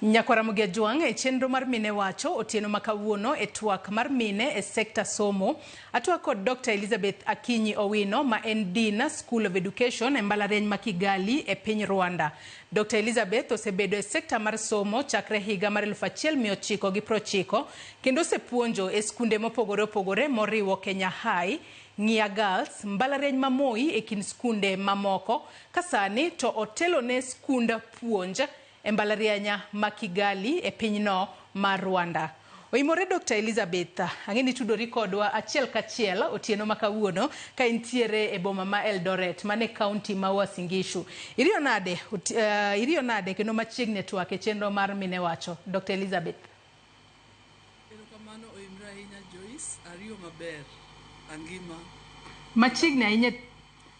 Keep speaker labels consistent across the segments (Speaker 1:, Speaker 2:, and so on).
Speaker 1: Nyakwara Mugia Jwang' e chenro mar mine wacho otieno ma kawuono e twak mar mine e sekta somo. Atwak kod Dr. Elizabeth Akinyi Owino ma en Dean School of Education e mbalariany ma Kigali e piny Rwanda. Dr. Elizabeth osebedo e sekta mar somo chakre higa mar 1990 Kendo osepuonjo e skunde mopogore opogore moriwo Kenya High, Ng'ia Girls, mbalariany ma Moi e kind skunde ma moko ka sani to otelone skund puonj e mbalarianya ma Kigali e pinyno mar Rwanda. Oimore Dokta Elizabeth, ang'e ni itudori kodwa achiel kachiel otieno ma kawuono ka intiere e boma ma Eldoret man e kaunti ma Uasin Gishu. Iriyo nade, oti, uh, iriyo nade kendo machiegni e twak e chenro mar Mine Wacho. Dokta Elizabeth. Erokamano
Speaker 2: oimre ahinya Joyce, ariyo maber. Angima. Machiegni ahinya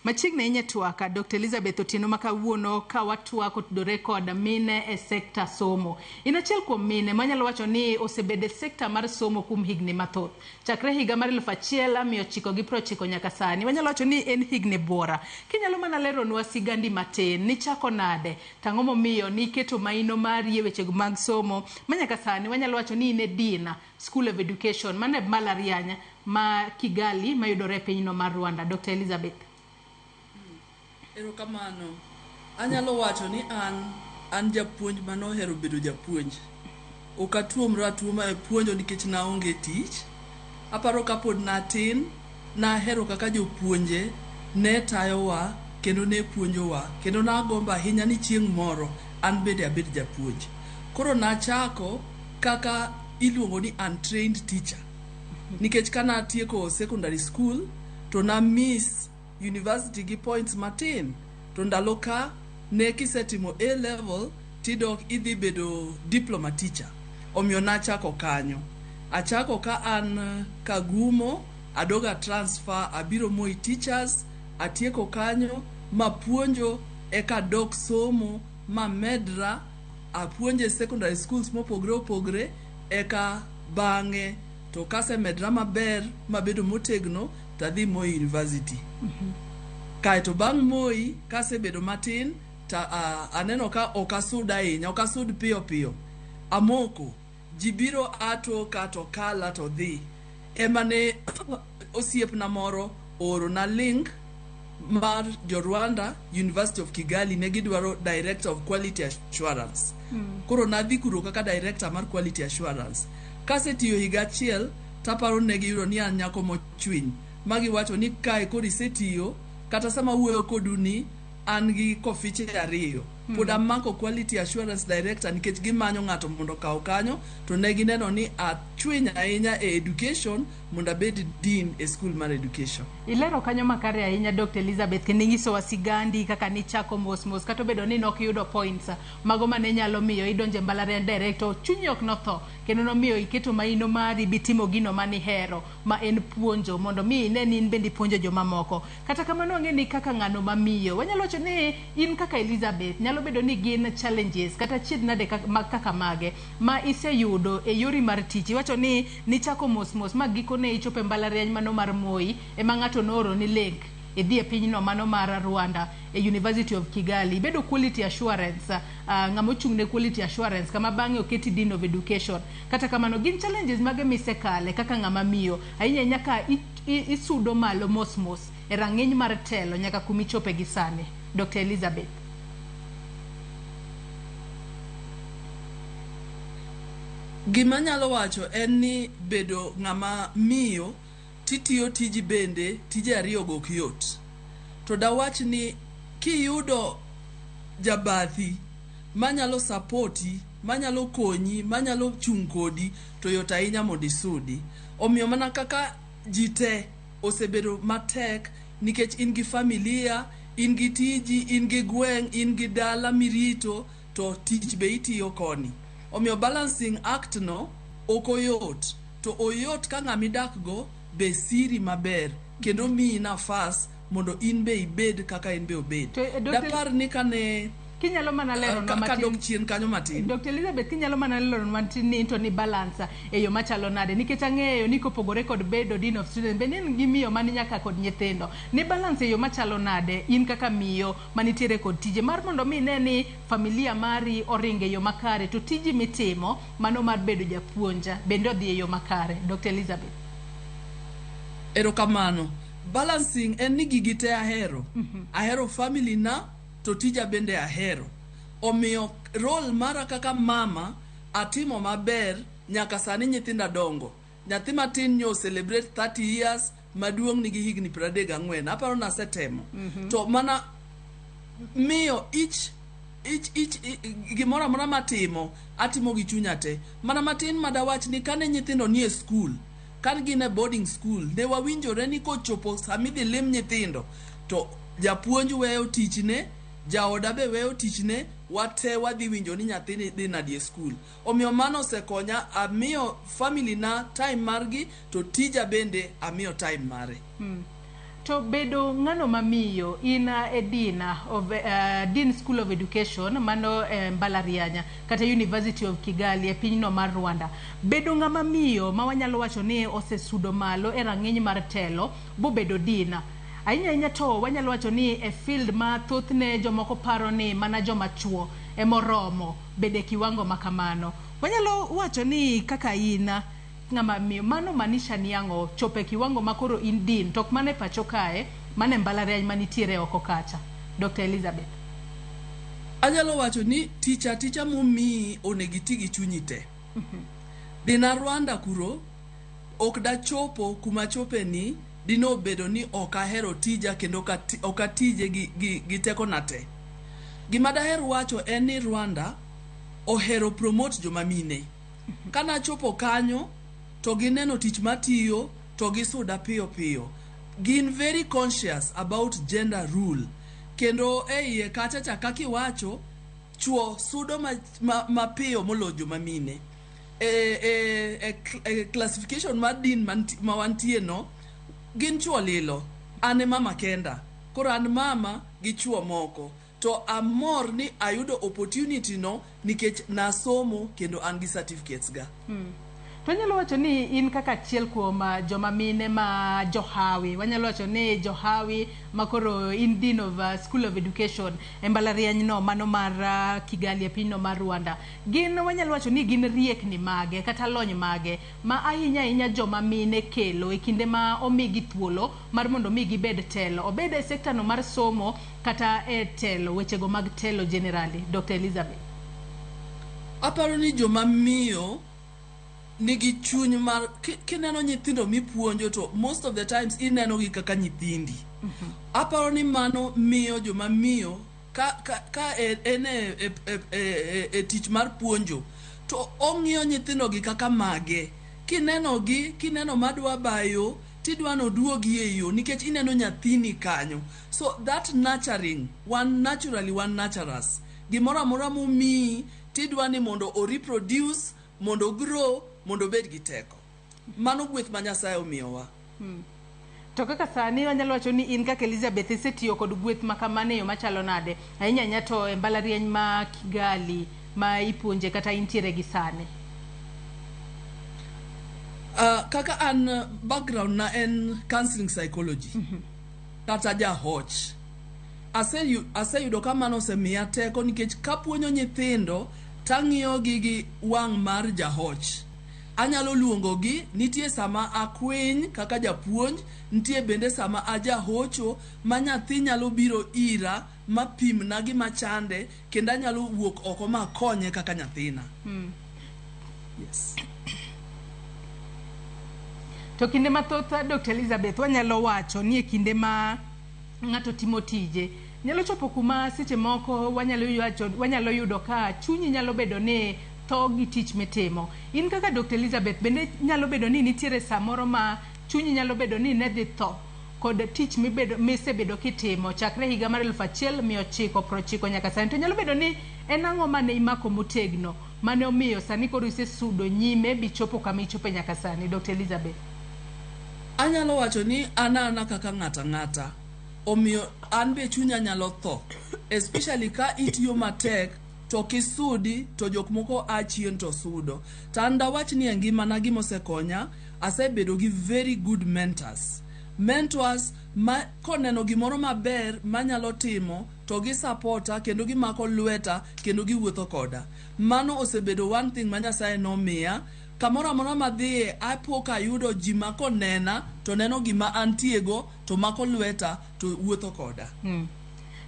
Speaker 1: Machiegni ahinya twaka Dr. Elizabeth Otieno ma kawuono ka watwak otudore kod mine e sekta somo. In achiel kuom mine manyalo wacho ni osebedo e sekta mar somo kuom higni mathoth. Chakre higa mar eluf achiel a mia ochiko gi piero ochiko nyaka sani. Wanyalo wacho ni en higni buora. Kinyalo mana leronwa sigandi matin, nichako nade? To ang'o momiyo niketo maino mari e wechego mag somo ma nyaka sani wanyalo wacho ni in e Dean, School of Education, mano e mbalariany ma Kigali mayudore e pinyno mar Rwanda? Dokta Elizabeth.
Speaker 2: Erokamano. Anyalo wacho ni an an japuonj mane ohero bedo japuonj. Ok atuomra atuoma e puonjo nikech naonge tich. Aparo ka pod natin, nahero kaka jopuonje ne tayowa kendo ne puonjowa, kendo nagombo ahinya ni chieng' moro an bende abed japuonj. Koro nachako kaka iluongo ni untrained teacher nikech ka natieko secondary school to na miss. University gi points matin to ndalo ka ne kisetimo A level tidok idhi bedo diploma teacher. Omiyo nachako kanyo. Achako ka an Kagumo, adoga transfer abiro Moi Teachers, atieko kanyo mapuonjo eka adok somo mamedra apuonj e secondary schools mopogre opogre eka bang'e to kasemedra maber mabedo motegno to adhi Moi University. Kaeto bang' Moi kasebedo matin to ah, aneno ka ok asud ahinya, ok asud piyo piyo. Amoko, ji biro ato ka to kala to dhi. Ema ne osiepna moro oorona link mar jo Rwanda University of Kigali ne gidwaro director of quality assurance koro nadhi kuro kaka director mar quality assurance kasetiyo higa achiel taparo ne giyudo ni an nyako mochwiny ma giwacho ni kae koro isetiyo kata sama wuoyo kodu ni an gi kofiche ariyo pod amako quality assurance director nikech gimanyo ng'ato mondo okaw kanyo to ne gineno ni achwiny ahinya e education mondo abed dean e skul mar education. Ilero kanyo makare
Speaker 1: ahinya Dr. Elizabeth kendo inyisowa sigandi kaka nichako mos mos kata obedo ni nok yudo points mago mane nyalo miyo idonje mbalariany direct to chunyi ok notho kendo nomiyo iketo maino mari bitimo gino mani hero ma en puonjo mondo mi ine ni in bende ipuonjo jomamoko. Kata kamano ang'e ni kaka ng'ano ma miyo wanyalo wacho ni in kaka Elizabeth nyalo bedo ni gin challenges kata chiedh nade kaka mage ma iseyudo e yori mar tich iwacho ni Nichako mos mos ma gikone ichopo e mbalariany mano mar Moi ema ng'ato nooroni link idhi e pinyno mano mar Rwanda e University of Kigali. Ibedo quality assurance, ng'ama ochung' ne quality assurance kama bang'e oketi Dean of Education. Kata kamano gin challenges mage misekale kaka ng'ama miyo ahinya ahinya ka isudo malo mos mos e rang'iny mar telo nyaka kuma ichope gi sani? Dokta Elizabeth.
Speaker 2: Gima anyalo wacho en ni bedo ng'ama miyo titiyo tiji bende tije ariyo go ok yot. To dawach ni kiyudo jabathi manyalo sapoti, manyalo konyi, manyalo chung' kodi to yot ahinya mondo isudi. Omiyo mana kaka ji te osebedo matek nikech in gi familia, in gi tiji, in gi gweng', in gi dala mirito. to tich be itiyo koni. Omiyo balancing act no ok oyot, to oyot ka ng'ama idakgo be siri maber kendo miyi nafas mondo in be ibed kaka en be obed. To, eh, Dr. Dapar ni kane Kinyalo
Speaker 1: mana eh, leronwa ka- kadok matin. chien kanyo matin.
Speaker 2: Dr. Elizabeth kinyalo
Speaker 1: mana leronwa matin ni into ni balance e yo machalo nade nikech ang'eyo ni kopogore kod bedo dean of students be ni in gi miyo mani nyaka kod nyithindo. Ni balance e yo machalo nade in kaka miyo manitiere kod tije mar mondo omi ine ni familia mari oringo e yo makare to tiji mitimo mano mar bedo japuonj bende odhi e yo makare. Dokta Elizabeth. Erokamano.
Speaker 2: Balancing en ni gigi te ahero. Ahero family na to tija bende ahero. Omiyo role mara kaka mama atimo maber nyaka sani nyithinda dongo. Nyathi matin nyo celebrate 30 years, maduong' nigi higni 34. Aparo nasetemo. To mana miyo each each each i- gimoro amora matimo atimo gi chunya te mana matin madawach ni kane nyithindo nie skul kane gin e boarding school ne wawinjore ni kochopo samidhi lim nyithindo to japuonj weyo tichne jaoda be weyo tichne wate wadhi winjo ni nyathini dhi nadi e skul Omiyo mano osekonya, amiyo family na time margi to tija bende amiyo time mare. Mm. To
Speaker 1: bedo ng'ano ma miyo in e Dean of, uh, Dean School of Education mano e eh, mbalarianya kata University of Kigali e pinyno mar Rwanda. Bedo ng'ama miyo ma wanyalo wacho ni osesudo malo e rang'iny mar telo bobedo Dean ahinya ahinya to wanyalo wacho ni e field ma thothne jomoko paro ni mana joma chuo emoromo bedo e kiwango ma kamano. Wanyalo wacho ni kaka in ng'ama miyo, mano manisha ni ang'o? Chopo e kiwango ma koro in dean to ok mana e pacho kae, mana e mbalariany ma nitiere oko kacha. Dokta Elizabeth.
Speaker 2: Anyalo wacho ni tich aticha momiyi onego iti gi chunyi te. Dhi na Rwanda kuro, ok dachopo kuma achope ni. Dine obedo ni ok ahero tija kendo ok atije gi tekona te, gima daher wacho en ni Rwanda ohero promote joma mine. Kane achopo kanyo to gineno tich matiyo to gisuda piyo piyo. Gin very conscious about gender rule kendo e iye kacha cha kaka iwacho, chuo sudo mapiyo moloyo joma mine. e, e, e, cl- e classification mar din manti- ma wantie no gin chuo lilo an e mama kenda koro an mama gi chuo moko to amor ni ayudo opportunity no nikech nasomo kendo an gi certificates ga To wanyalo
Speaker 1: wacho ni in kaka achiel kuom ah, joma mine ma johawi, wanyalo wacho ni johawi ma koro in dean of ah, School of Education e mbalarianyno mano mar ah, Kigali e pinyno mar Rwanda. Gin wanyalo wacho ni gin riekni mage kata lony mage ma ahinya ahinya joma mine kelo e kinde ma omigi thuolo mar mondo mi gibed telo, obed e sector no mar somo kata e telo, wechego mag telo generally? Dokta Elizabeth.
Speaker 2: Aparo ni joma miyo nigi chuny mar, kineno nyithindo mipuonjo to most of the times inenogi kaka nyithindi. Aparo ni mano miyo joma miyo ka, ka, ka e, en e, e, e, e, e, e tich mar puonjo to ong'iyo nyithindogi kaka mage kinenogi kineno madwa bayo tidwa noduogi e yo nikech ineno nyathini kanyo so that nurturing wan naturally wan naturous gimoro amora mumiyi tidwa ni mondo o reproduce mondo grow mondo obed gi teko Mano gweth ma Nyasaye omiyowa. Hmm.
Speaker 1: To kaka sani wanyalo wacho ni in kaka Elizabeth isetiyo kod gweth ma kamano e yo machalo nade? Ahinya ahinya to e mbalariany ma Kigali ma ipuonje kata intiere gi sani.
Speaker 2: Uh, kaka an uh, background na en counseling psychology mm -hmm. kata jahoch aseyudo ase ka mano osemiya teko nikech kapuonjo nyithindo tang'iyogi gi wang' mar jahoch Anyalo luongogi, nitie sama akwiny kaka japuonj, nitie bende sama a jahocho ma nyathi nyalo biro ira ma pimna gima chande kendo anyalo wuok oko ma akonye kaka nyathina. Yes.
Speaker 1: To kinde mathoth Dokta Elizabeth wanyalo wacho ni e kinde ma ng'ato timo tije. Nyalo chopo kuma seche moko wanyalo yuacho, wanyalo yudo ka chunyi nyalo bedo ni tho gi tich mitimo. In kaka Dr. Elizabeth bende nyalo bedo ni nitiere samoro ma chunyi nyalo bedo ni ne dhi tho kod tich mibedo misebedo kitimo chakre higa mar eluf achiel mia ochiko prochiko nyaka sani. To nyalo bedo ni en ang'o mane imako motegno mane omiyo sani koro isesudo nyime bichopo kama ichope nyaka sani. Dr. Elizabeth.
Speaker 2: Anyalo wacho ni an ana kaka ng'ato ang'ata, omiyo an be chunya nyalo tho especially ka itiyo matek to ok isudi to jok moko a chien to sudo. To an dawach ni e ngimana gima osekonya, asebedo gi very good mentors. Mentors ma koneno gimoro maber manyalo timo to gi sapota kendo gimako lweta kendo giwuotho koda. Mano osebedo one thing ma Nyasaye nomiya Kamoro amora madhiye apo ka ayudo ji ma konena to neno gima antiego to mako lweta to wuotho koda. Mm.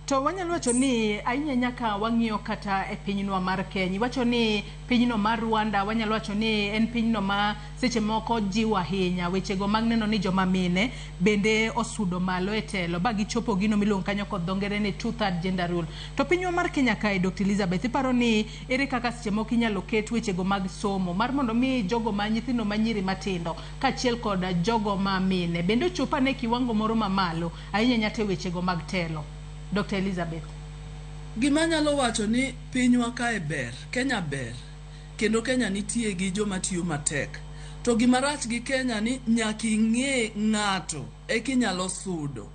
Speaker 2: To
Speaker 1: wanyalo wacho ni ahinya ahinya ka wang'iyo kata e pinywa mar Kenya, iwacho ni pinyno mar Rwanda wanyalo wacho ni en pinyno ma seche moko jiwo ahinya wechego mag neno ni joma mine bende osudo malo e telo ba gichopo gino miluongo kanyo kod dho ngere ni two third gender rule. To pinywa mar Kenya kae Dr. Elizabeth iparo ni Ere kaka seche moko inyalo ket wechego mag somo mar mondo mi jogo ma nyithindo ma nyiri matindo kaachiel kod jogo ma mine bende ochop ane e kiwango moro ma malo ahinya nyata e wechego mag telo? Dokta Elizabeth. Gima
Speaker 2: anyalo wacho ni pinywa kae ber, Kenya ber kendo Kenya nitie gi joma tiyo matek. To gima rach gi Kenya ni nyaka ing'e ng'ato eka inyalo sudo.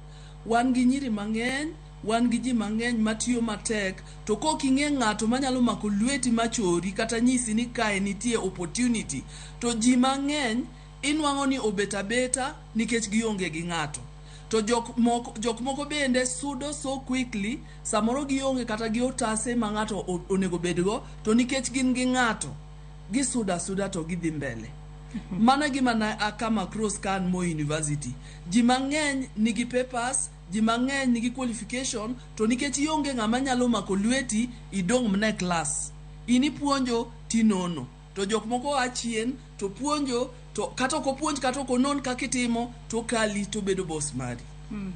Speaker 2: Wan gi nyiri mang'eny. Wan gi ji mang'eny ma tiyo matek, to kok ing'e ng'ato manyalo mako lweti ma chori kata nyisi ni kae nitie opportunity. To ji mang'eny inwang'o ni obet abeta nikech gionge gi ng'ato. To jok moko jok moko bende sudo so quickly, samoro gionge kata gi otase ma ng'ato onego bedgo, to nikech gin gi ng'ato, gisudo asuda to gidhi mbele. Mano e gima ne a come across ka an Moi University. Ji mang'eny nigi papers, Ji mang'eny nigi qualification to nikech ionge ng'ama nyalo mako lweti idong' mna e class in ipuonjo tinono to jok moko oa chien to puonjo to kata ok opuonj kata ok onon kaka itimo to okali to obedo boss mari. Mm.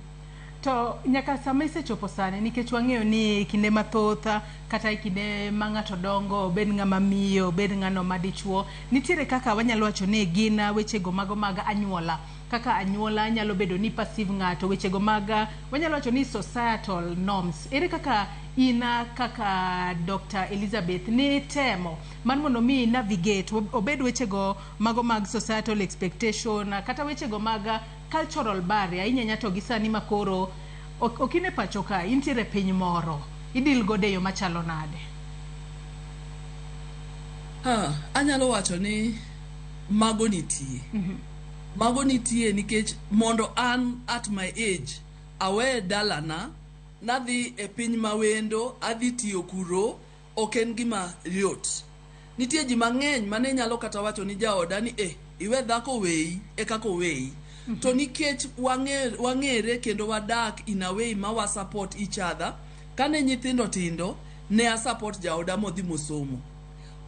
Speaker 2: To
Speaker 1: nyaka sama isechopo sani nikech wang'eyo ni e kinde mathoth kata e kinde ma ng'ato dongo obed ng'ama miyo obed ng'ano ma dichuo nitiere kaka wanyalo wacho ni gin wechego mago mag anyuola Kaka anyuola nyalo bedo ni perceive ng'ato, wechego mag wanyalo wacho ni societal norms. Ere kaka in kaka Doctor Elizabeth nitemo mar mondo mi navigate ob- obed wechego mago mag societal expectation kata wechego mag cultural barrier ahinya ahinya to gi sani ma koro ok ok in e pacho ka intiere e piny moro idil godo e yo machalo nade?
Speaker 2: Ah, anyalo wacho ni mago nitie. Mago nitie nikech mondo an at my age awe dalana nadhi e piny mawendo adhi tiyo kuro ok en gima yot. Nitie ji mang'eny mane nyalo kata wacho ni jaoda ni eh iwe dhako oweyi ekaka oweyi. To nikech wang'ere kendo wadak in a way ma wa support each other, kane nyithindo tindo ne a support jaoda modhi mosomo.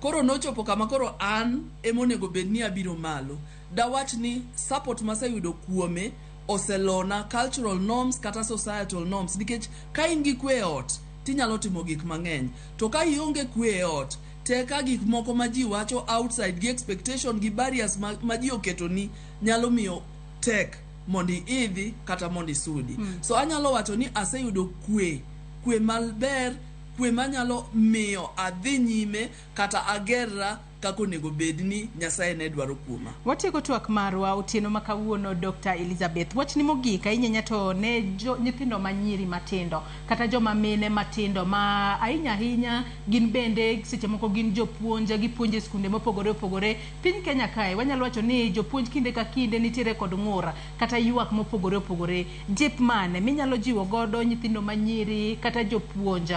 Speaker 2: Koro nochopo kama koro an ema onego bed ni abiro malo. Dawach ni support maseyudo kuome oselona cultural norms kata societal norms nikech ka in gi kwe e ot to inyalo timo gik mang'eny. To ka ionge kwe e ot to eka gik moko ma ji wacho outside gi expectation gi barriers ma, ma ji oketoni nyalo miyo tek mondo iidhi kata mondo isudi. So anyalo wacho ni aseyudo kwe, kwe maber Kwe ma nyalo miyo adhi nyime kata agerra kaka onego bed ni Nyasaye ne dwaro kuoma. Watieko twak marwa
Speaker 1: otieno ma kawuono Dokta Elizabeth. Wachni mogik ahinya nya to ne jo nyithindo ma nyiri matindo kata joma mine matindo ma ahinya ahinya gin bende seche moko gin jopuonj gipuonjo e skunde mopogore opogore. Piny Kenya kae wanyalo wacho ni jopuonj kinde ka kinde nitiere kod ng'ur kata ywak mopogore opogore, jip mane minyalo jiwo godo nyithindo manyiri kata jopuonj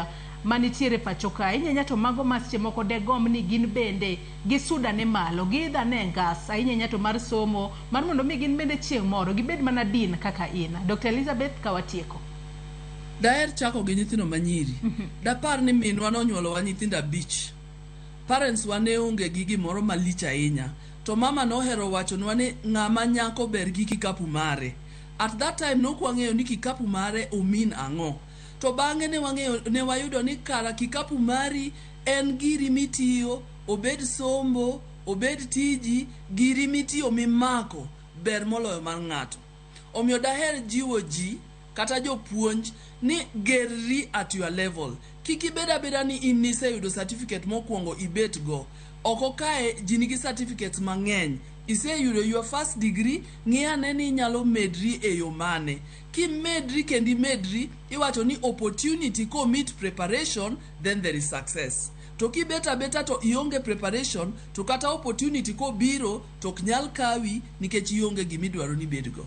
Speaker 1: manitiere pacho ka, ahinya ahinya to mago ma seche moko degomb ni gin bende gisud ane malo, giidh ane e ngas ahinya ahinya to mar somo mar mondo mi gin bende chieng' moro gibed mana Dean kaka in. Dokta Elizabeth ka watieko. Daher
Speaker 2: chako gi nyithindo manyiri. Dapar ni minwa nonyuolowa nyithindo abich. Parents wa ne onge gi gimoro malich ahinya. To mama nohero wachonwa ni ng'ama nyako ber gi kikapu mare. At that time ne ok wang'eyo ni kikapu mare o mean ang'o. To bang'e ne wang'eyo ne wayudo ni kara kikapu mari en giri mitiyo obed sombo, obed tiji, giri mitiyo mimako ber moloyo mar ng'ato. Omiyo daher jiwo ji kata jopuonj ni gerri at your level. Kik ibed abeda ni in niseyudo certificate mokuongo ibet go. Oko kae ji nigi certificates mang'eny. Iseyudo your first degree, ng'i ane ni inyalo medri e yo mane. Kimedri kendo imedri, iwacho ni opportunity ko meet preparation then there is success. To kibet abeta to ionge preparation to kata opportunity kobiro, To ok nyal kawi nikech ionge gima idwaro ni ibedgo.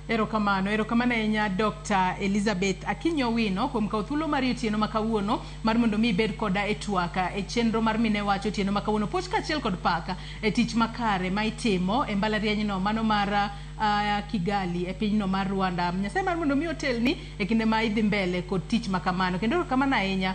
Speaker 1: Erokamano, erokamano ahinya Dokta Elizabeth Akinyi Owino kuom kawo thuolo mari otieno ma kawuono mar mondo mi ibed koda e twak e chenro mar Mine Wacho otieno ma kawuono. Puoch kaachiel kod pak e tich makare ma itimo e mbalarianyno mano mar uh, Kigali e pinyno mar Rwanda. Nyasaye mar mondo mi otelni e kinde ma idhi mbele kod tich ma kamano. Kendo erokamano ahinya